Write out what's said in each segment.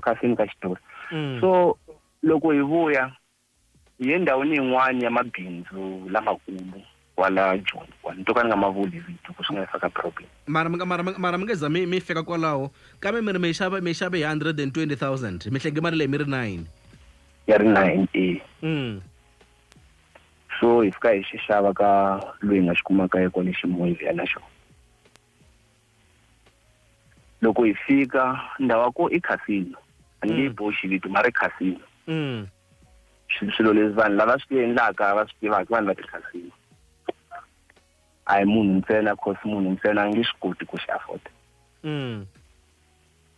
exikhasini ka xitori mm. so loko hi vuya hi ye ndhawini yin'wana ya mabindzu lamakulu kwala joni kwala ni to ka ni nga ma vuli vito ku swi nga faka problem mara mara mara mi nga za mi mi fika kwalaho kambe mi ri mi xava mi xave hi hundred and twenty thousand mi hlenge mali leyi mi ri nine ya ri nine e mm. so hi fika hi xi xava ka loyi nga xi kumaka ye kwale ximoyiviyana xona loko hi fika ndhawa ko i casino a ni nge mm. boxi vito ma ri casino mm. swilo leswi vanhu lava swi endlaka va swi tivaka vanhu va ti-casino a hi munhu ntsena cause munhu ntsena a nge swi koti ku xi afforda mm.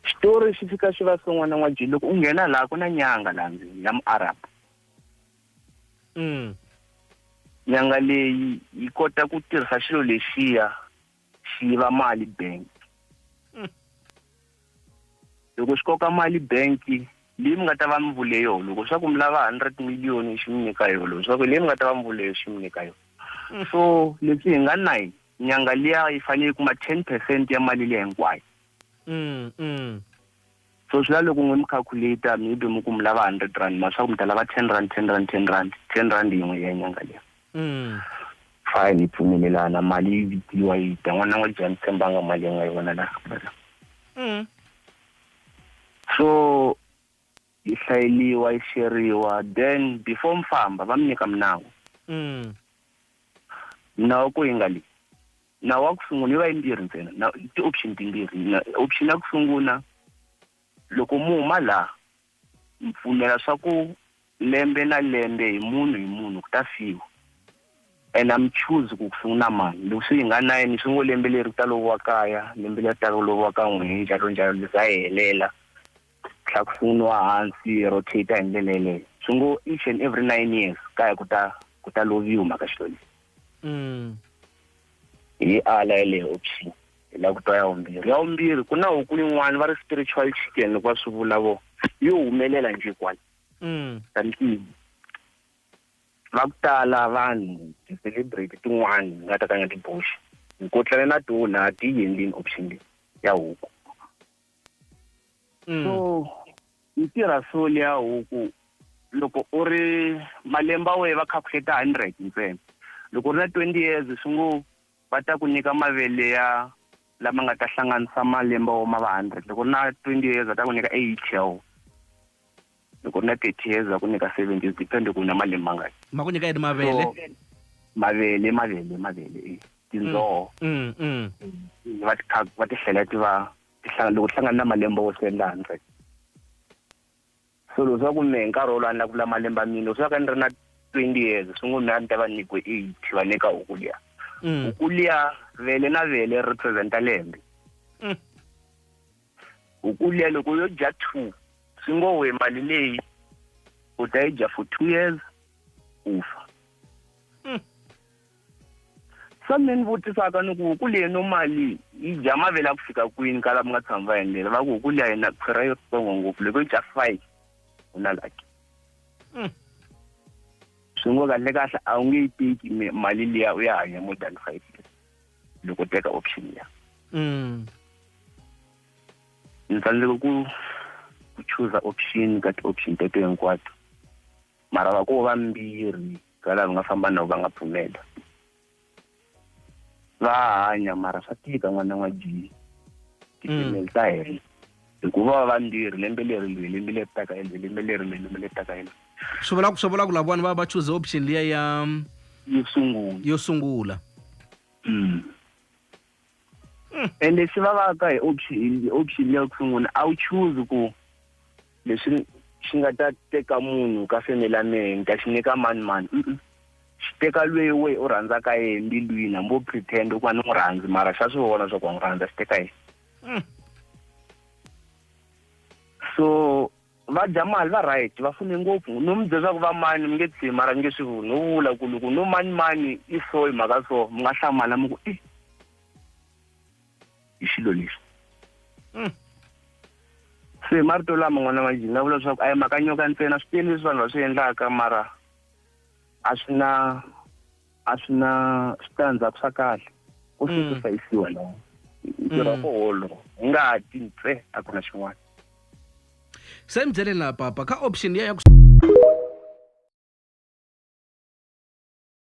xitori xi fika xi va swin'wana n'wa jini loko u nghena laha ku na nyanga laha ndzeni ya muarab nyanga leyi yi kota ku tirhisa xilo lexiya xi yiva mali bank hmm. loko xi koka mali bank leyi mi nga ta va mi vule yoho loko swa ku mi lava hundred million xi mi nyika yoho loko swa ku leyi mi nga ta va mi vule yo xi mi nyika yoho hmm. so leswi hi nga nine nyanga liya yi fanele yi kuma ten percent ya mali leyi hinkwayo hmm, So swi la loko n'we mi calculator maybe mi ku mi lava hundred rand ma swa ku mi ta lava ten rand ten rand ten rand ten rand yin'we ya nyanga leyi fine hi pfumelelana mali yi vitiwa yi ta n'wana n'wa jani tshembanga mali yi nga yi vona la so yi hlayeliwa yi sheriwa then before mi famba va mi nyika minawu minawu ku yi nga leyi Nawu wa ku sungula yi va yimbirhi ntsena na ti-option timbirhi na option ya ku sungula loko mu huma laha mi pfumela swa ku lembe na lembe hi munhu hi munhu ku ta fiwa and a mi choose ku ku sungula mani loko swi nga na yini swi ngo lembe leri ku ta loviwa kaya lembe leri taka ku loviwa ka n'we njalo njalo liza helela tlakusiniwa hansi rotate hi ndlela yeleyo swi ngo each and every nine years ka ya ku ta ku ta loviwa mhaka xilo lexi mm. hi ala yeleyo option hi la ku twa ya vumbirhi ya vumbirhi ku na huku yin'wana va ri spiritual chicken loko va swi vula vo yo humelela nje kwala mm. kantivo va ku tala vanhu ti-celebrate tin'wana ni nga ta ka nga tiboxi nkotlane na tona ti yendlini option leyi ya huku Mm. so yi tirha so leya huku loko u ri malembe wehe va calculate hundred ntsena loko u ri na twenty years swi ngo va ta ku nyika mavele ya lama nga ta hlanganisa malembe wo ma va hundred loko u ri na twenty years va ta ku nyika eighty ya wona loko u na thirty years va ku nyika seventy years depend ku na malembe mangani ma ku nyika yini mavele mavele mavele mavele e tindzoho mm, mm, mm. va ti va ti hlela ti va loko ti hlangana na malembe wo se laha ntsena so loko swa ku mehe nkarhi wolowo a ni la ku vula malembe a mina loko swa ka ni ri na twenty years swi ngo mehe a ni ta va nyikiwe eighty va nyika huku liya huku liya vele na vele ri representa lembe U ku liya loko yo dya two swi ngo we mali leyi u ta yi dya for two years u fa hmm. se mi ni vutisaka ni ku huku leyi no mali yi dya mavele a ku fika kwini ka la mi nga tshami va endlela va ku huku liya yina khwira yo tsongo ngopfu loko yi dya five u na laki hmm. swi ngo kahle kahle a wu nge yi teki mali liya u ya hanya more than five years loko u teka option ya mm. ni tsandzeka ku ku chuza option ka ti-option teto hinkwato mara va ko vambirhi ka lava nga famba na va nga pfumela va hanya mara swa tika n'wana n'wa ji mm. ti-female ta hela hikuva va va ndzi ri lembe leri ndzi lembe leri taka and lembe leri ndzi lembe leri taka ene swi vula swi vula ku lavawani va va choose option liya ya yo sungula yo sungula mm. mm. ende swi va va ka hi option option leya ku sungula a wu choose ku leswi xi nga ta teka munhu ka family ya mehe ni ta xi nyika mani mani xi teka lweyi we u rhandzaka yena mbilwini hambi u pretend ku va ni n'wi rhandzi mara xa swi vona swa ku wa n'wi rhandza xi teka yena Mm. so va dya mali va right va fune ngopfu no mi byela ku va mani mi nge tshimi mara mi nge swi vuli no vula ku loko no mani mani i so hi mhaka so mi nga hlamala mi ku i hi xilo lexi mm. se marito lama n'wana wa jini na vula leswaku a yi mhaka nyoka ntsena swi tele leswi vanhu va swi endlaka mara a swi na a swi na switandzhaku swa kahle ko mm. sacrificeiwa la ntirho wa mm. koholo hi nga ha ti ntse a ku na xin'wana se ni byeleni laha papa ka option ya ya ku